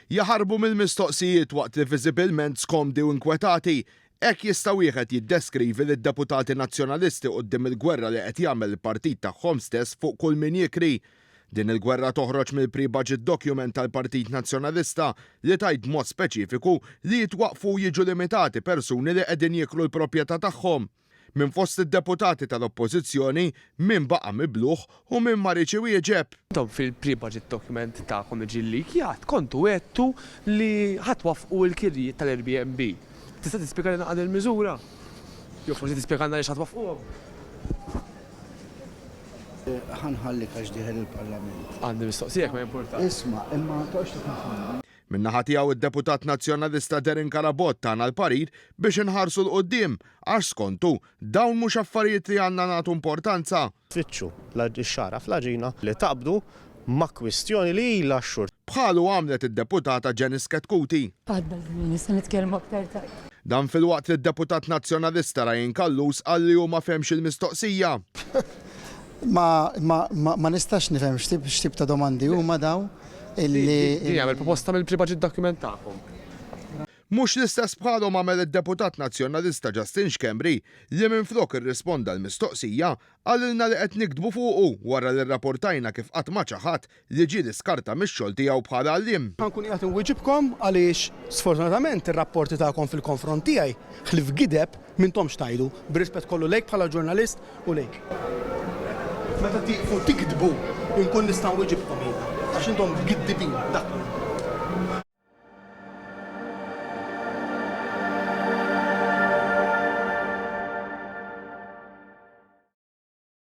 Jaħarbu mill-mistoqsijiet waqt li viżibilment skomdi u inkwetati, hekk jista' wieħed jiddeskrivi lid-deputati Nazzjonalisti quddiem il-gwerra li qed jagħmel il-partit tagħhom stess fuq kull min jikri. Din il-gwerra toħroġ mill-pre-budget document tal-Partit Nazzjonalista li tgħid b'mod speċifiku li jitwaqqfu u jiġu limitati persuni li qegħdin jikru l-proprjetà tagħhom. Minn fost id-deputati tal-Oppożizzjoni, min baqa' mibluħ u min ma riedx iwieġeb? Intom fil-pre-budget document tagħkom li ġie llikjat kontu għedtu li ħa twaffqu l-kirjiet tal-Airbnb. Tista' tispjegalna għal din il-miżura? Jew forsi tispjegalna għaliex ħa twaffquhom? Ħa nħallik għax dieħel il-Parlament. Għandi mistoqsija jekk ma jimpurtakx. Isma', imma ma toqgħodx tikkonfondi. Min-naħa tiegħu d-Deputat Nazzjonalista Darren Carabott tana l-parir biex inħarsu 'l quddiem għax skontu dawn mhux affarijiet li għandna nagħtu importanza. Tfittxu x-xagħra fl-għaġina li taqbdu ma' kwistjoni li ilha x-xhur. Bħalu għamlet id-Deputata Janice Chetcuti. Għadda żmien issa nitkellmu aktar tard. Dan filwaqt li d-Deputat Nazzjonalista Ryan Callus qal li hu ma fehmx il-mistoqsija. Ma, ma, ma, ma nistax nifhem x'tip x'tip ta' domandi huma daw illi. Din jagħmel proposta mill-pribaġit document tagħkom. Mhux l-istess bħalhom għamel id-Deputat Nazzjonalista Justin Schembri li minflok irrisponda l-mistoqsija, qalilna li qed niktbu fuqu wara li rraportajna kif qatt ma ċaħad li ġie l-iskarta mix-xogħol tiegħu bħala għalliem. Ħa nkun qiegħed inwieġibkom għaliex sfortunatament ir-rapporti tagħkom fil-konfront tiegħi, ħlief gideb, m'intomx tgħidu, bir-rispett kollu lejk bħala ġurnalist u lejk. Meta tieqfu tigdbu nkun nista' nwieġibkom jiena, għax intom giddibin, dak hu.